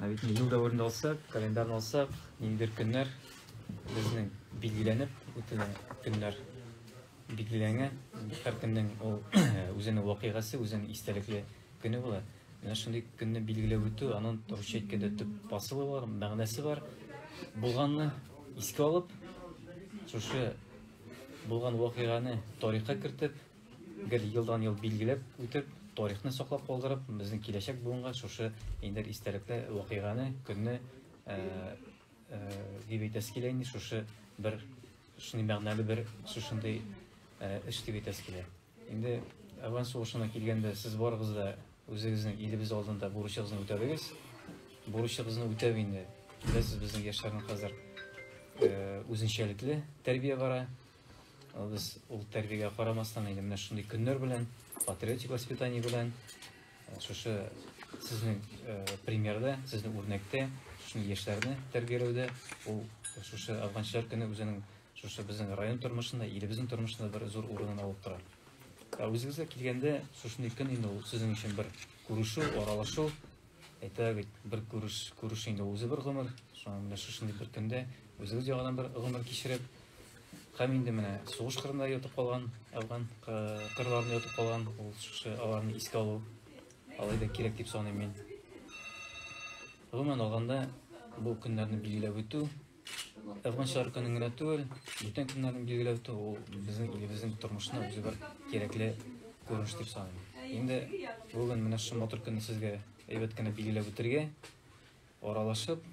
Ә бит ел дәверендә алсак, календарьны алсак, ниндидер көннәр безнең билгеләнеп үтелгән көннәр билгеләнгән. Һәр көннең ул үзенең вакыйгасы, үзенең истәлекле көне була. Менә шундый көнне билгеләп үтү, аның русча әйткәндә төп посылы бар, мәгънәсе бар. Булганны искә алып, шушы булган вакыйганы тарихка кертеп, Гел елдан-ел билгеләп үтеп, тарихны саклап калдырып, безнең киләчәк буынга шушы эндер истәлекле вакыйганы, көнне, дип әйтәсе килә инде, шушы бер шундый мәгънәле бер шушындый эш дип әйтәсе килә. Инде Әвән сугышына килгәндә, сез барыгыз да үзегезнең илебез алдында бурычыгызны үтәдегез. Бурычыгызны үтәп инде, беләсез, безнең яшьләрнең хәзер үзенчәлекле тәрбия бара. Без ул тәрбиягә карамастан инде менә шундый көннәр белән, патриотик воспитание белән, э, шушы сезнең э, примерда, сезнең үрнәктә, шушы яшьләрне тәрбияләүдә ул шушы афганчылар көне үзенең шушы безнең район тормышында, илебезнең тормышында бер зур урынын алып тора. Ә үзегезгә килгәндә, шушындый көн инде ул сезнең өчен бер күрешү, аралашу, Әйтә бит, бер күреш, күреш инде үзе бер гомер. Шуңа менә шушындый бер көндә үзегез яңадан бер гомер кичереп, һәм инде менә сугыш кырында ятып калган, Әфган кырларында ятып калган, ул шушы аларны искә алу алай да кирәк дип саныйм мин. Гомумән алганда, бу көннәрне билгеләп үтү Язмышлар көнен генә түгел, бүтән көннәрен билгеләү тә ул безнең илебезнең тормышына үзе бер кирәкле күренеш дип саныйм. Инде бүген менә шушы матур көнне сезгә әйбәт кенә билгеләп үтергә, аралашып,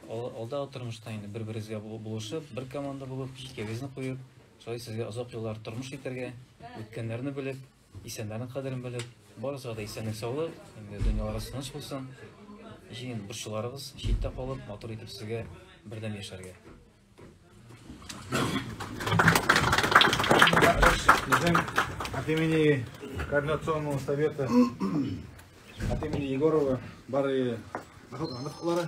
алда тормышта инде бер-берегезгә булышып, бер команда булып, җилкәгезне куеп, шулай сезгә озак еллар тормыш итәргә, үткәннәрне белеп, Исәннәрнең кадерен белеп, барысыга да исәнлек-саулык, дөньяларыгыз тыныч булсын. Җыен борчуларыгыз читтә калып, матур итеп сезгә бердәм яшәргә. Безнең от имени Координационного совета, от имени Егорова, бары бақытлары.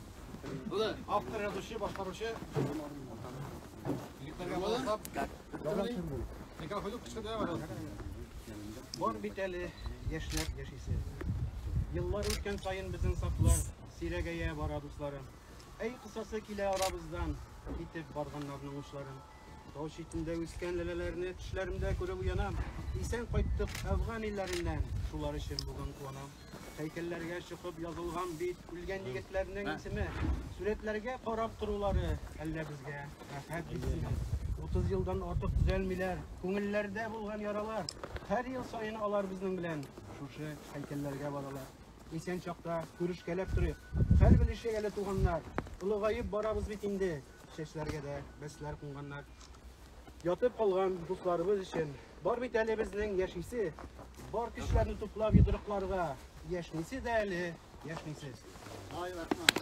Була, автор язучы, башкаручы. Егетләргә булсап. Никә хөлүк кычкырды бар. Бар бит әле яшьләр яшисе. Еллар үткән саен безнең сафлар сирәгәя бара дусларым. Әй кысасы килә арабыздан, китеп барганнарның учларын. Тау читендә үскән ләләләрне төшләремдә күреп уянам. Исән кайттык Әфган илләреннән, шулар өчен бүген куанам. Һәйкәлләргә чыгып язылган бит үлгән егетләрнең исеме. Сурәтләргә карап торулары әллә безгә рәхәт битсеме? 30 елдан артык төзәлмиләр. Күңелләрдә булган яралар. Һәр ел саен алар безнең белән шушы һәйкәлләргә баралар. Исән чакта күрешкәләп торыйк. Хәл белешек әле туганнар. Олыгаеп барабыз бит инде. Чәчләргә дә бәсләр кунганнар. Ятып калган дусларыбыз өчен бар бит әле безнең яшисе. Бар көчләрне туплап йодрыкларга. Яшнисе дә әле, яшнисе. Ай, рәхмәт.